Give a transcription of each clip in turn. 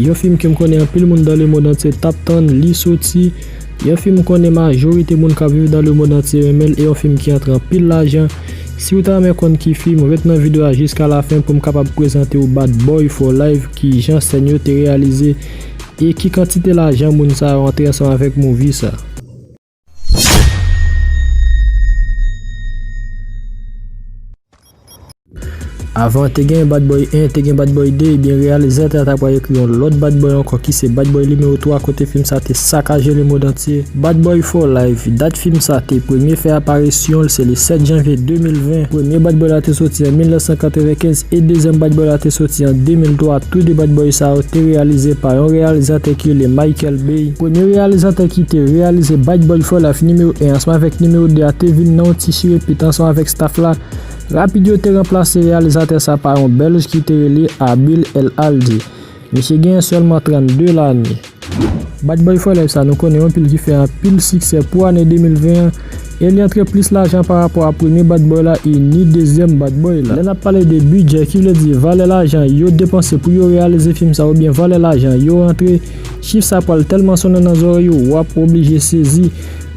Yon fim kem konnen anpil moun dan le mond antye tap tann li soti, yon fim m konnen majorite moun kap viv dan le mond antye renmen l e yon fim ki antre anpil lajan, siw ta renmen konn ki fim ret nan video a jiska la fen poum kapab prezantew Bad boy for life kijan sèn yo te reyalize e ki kantite lajan moun sa yo antre ansanm avèk movie sa. Avan te gen Bad Boy 1, te gen Bad Boy 2, ebyen reyalizatè a ta pral ekri yon lòt Bad Boy ankò ki se Bad Boy nimewo 3 kote fim sa te sakaje lemondantye. Bad Boy for Life, dat fim sa te premye fè aparisyon l se le 7 janvye 2020. Premye Bad Boy la te soti an 1995 e dezyèm Bad Boy la te soti an 2003, tou de Bad Boy sa yo te reyalize pa yon reyalizatè ki rele Michael. Bey, premye reyalizatè ki te reyalize Bad Boy For Life nimewo 1 ansanm avèk nimewo 2 a te vin nan yon ti chire pit ansanm avèk staf la. Rapid yo te ranplase reyalizatè sa pa yon Bèlj ki te rele Abil El Aldi. Misye genyen sèlman 32 lane. Bad Boy For Life sa nou konnen an pil ki fè anpil siksè pou ane 2020 an e li antre plis lajan pa rapò a premye Bad Boy la e ni dezyèm Bad Boy la. Lè n ap pale de bidjè ki vle di valè lajan yo depanse pou yo reyalize fim sa oubyen valè lajan yo rantre, Chif sa pral tèlman sonnen nan zòrèy ou, wap oblije sezi.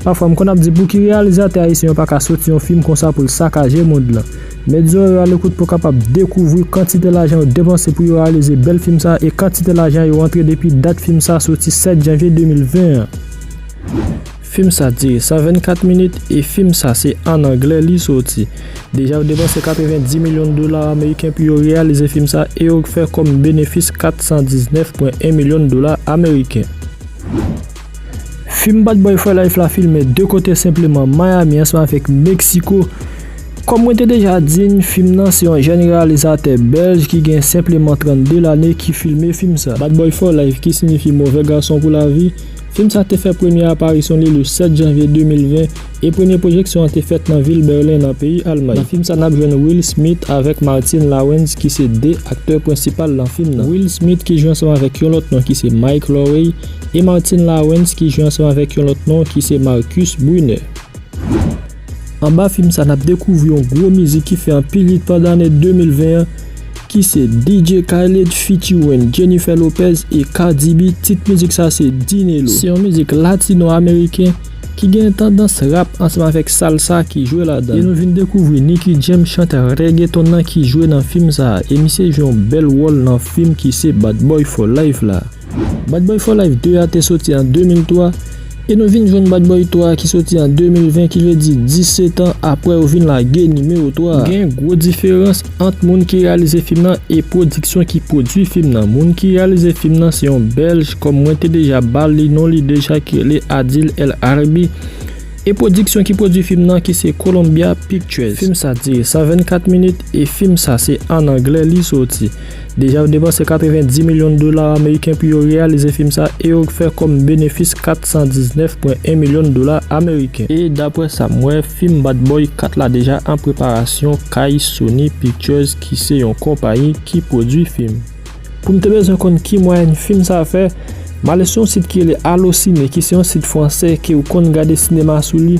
Pafwa m konn ap di pouki reyalizatè ayisyen yo paka soti yon fim konsa pou l sakaje mond lan. Met zòrèy ou alekout pou w kapab dekouvri kantite lajan yo depanse pou yo reyalize bèl fim sa e kantite lajan yo rantre depi dat fim sa soti 7 janvye 2020 an. Film sa dire 124 minit e film sa se an anglè li soti. Deja yo depanse 90 milyon dola ameriken pou yo reyalize film sa e yo fè kòm benefis 419.1 milyon dola ameriken. Film Bad Boy For Life la filme 2 kote senpleman Miami ansanm avèk Mexico. Kòm mwen te deja di n, film nan se yon jèn reyalizatè bèlj ki gen senpleman 32 lane ki filme film sa. Bad Boy For Life ki signifi Move Gason Pou Lavi. Fim sa te fè premye aparisyon li le 7 janvye 2020 e premye pwojeksyon an te fèt nan vil Berlin nan peyi Almay. Nan fim sa nap jwenn Will Smith avèk Martin Lawrence ki se 2 aktè prensipal lan fim nan. Will Smith ki jwe ansanm avèk yon lòt non ki se Mike Lowrey e Martin Lawrence ki jwe ansanm avèk yon lòt non ki se Marcus Brunner. Anba fim sa nap dekouvri yon gwo mizik ki fè anpil hit pandan ane 2020 an ki se DJ Khaled featuring Jennifer Lopez e Cardi B tit mizik sa se Dinelo. Se yon mizik latino ameriken ki gen tandans rap ansanm avèk salsa ki jwe ladan l. E nou vin dekouvri Nicky Jam chantè reggaeton nan ki jwe nan fim sa e misye jwe yon bèl wòl nan fim ki se Bad Boy For Life la. Bad Boy for Life 2 a te soti an 2003, e nou vin jwenn Bad Boy 3 a ki soti an 2020 ki vle di 17 an aprè yo vin lage nimewo 3 a. Gen gwo diferans ant moun ki reyalize fim nan e pwodiksyon ki pwodui fim nan. Moun ki reyalize fim nan se yon bèlj kòm mwen te deja ba li non li deja ki rele Adil El Arbi e pwodiksyon ki pwodui fim nan ki se Columbia Pictures. Fim sa dire 124 minit e fim sa se an anglè li soti. Deja yo depanse 90 milyon dola ameriken pou yo reyalize fim sa e yo fè kòm benefis 419.1 milyon dola ameriken. E daprè sa m wè, fim Bad Boy 4 la deja an preparasyon kay Sony Pictures ki se yon konpayi ki pwodwi fim. Pou m te bezwen konn ki mwayèn fim sa fè, m ale sou yon sit ki rele Allociné ki se yon sit fransè ke ou konn gade sinema sou li,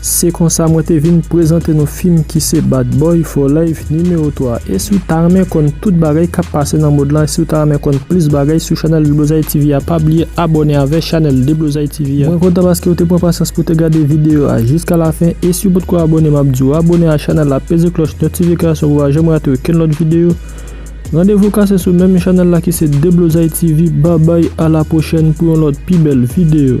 Se konsa mwen te vin prezante nou fim ki se Bad Boy for Life nimewo 3. E si w ta renmen konn tout bagay kap pase nan mond lan e si w ta renmen konn plis bagay sou chanèl Deblozay TV a pa bliye abòne avè chanèl Deblozay TV a. Mwen kontan paske w te pran pasyans pou w te gade videyo a jiska lafen e si w potko abòne map di w abòne a chanèl la peze klòch notifikasyon pou w pa janm rate okenn lòt videyo. Randevou kase sou menm chanèl la ki se Deblozay TV babay a la pwochèn pou yon lòt pi bèl videyo.